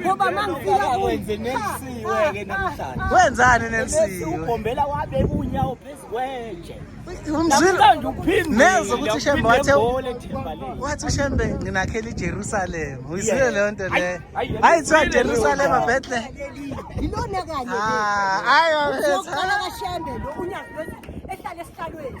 ngoba mangifika kwenze nelisiwe ke namhlanje wenzani nelisiwe ugombela wabe kunyawo phezukwenje umzwile neze ukuthi shembe wathe wathi ushembe nginakhela iJerusalem uyizile leyo nto le hayi kuthiwa Jerusalem Bethlehem yilona kanye ah, hayi wabetha uqala kashembe lo unyazi ehlale esihlalweni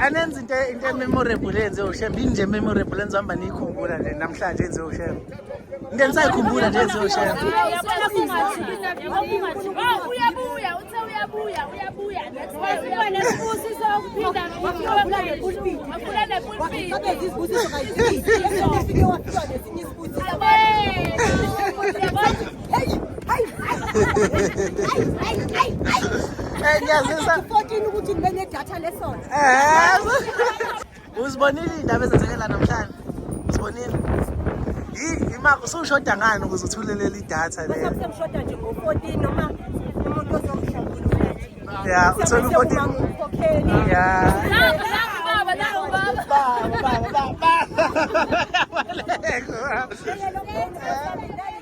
anenza into into ememorable enze ushembe inje memorable enze hamba niyikhumbula nje namhlanje enze ushembe into enisayikhumbula nje enze ushembe uyabuya uthe uyabuya uyabuya nesibusiso ukuphinda ngokula nepulpiti ngiyazisa 14 ukuthi ngibe nedatha lesona uzibonile iy'ndaba ezenzekela namhlanje uzibonile usushoda ngani ukuze uthulelele idatha le usushoda nje ngo-14 noma umuntu ozomhlawula ya uthole u-14 ya Baba, baba, baba.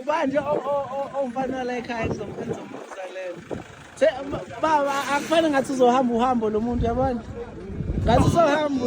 ubanje omfana la ekhaya engizombuza lena se baba akufane ngathi uzohamba uhambo lo muntu yabona ngathi uzohamba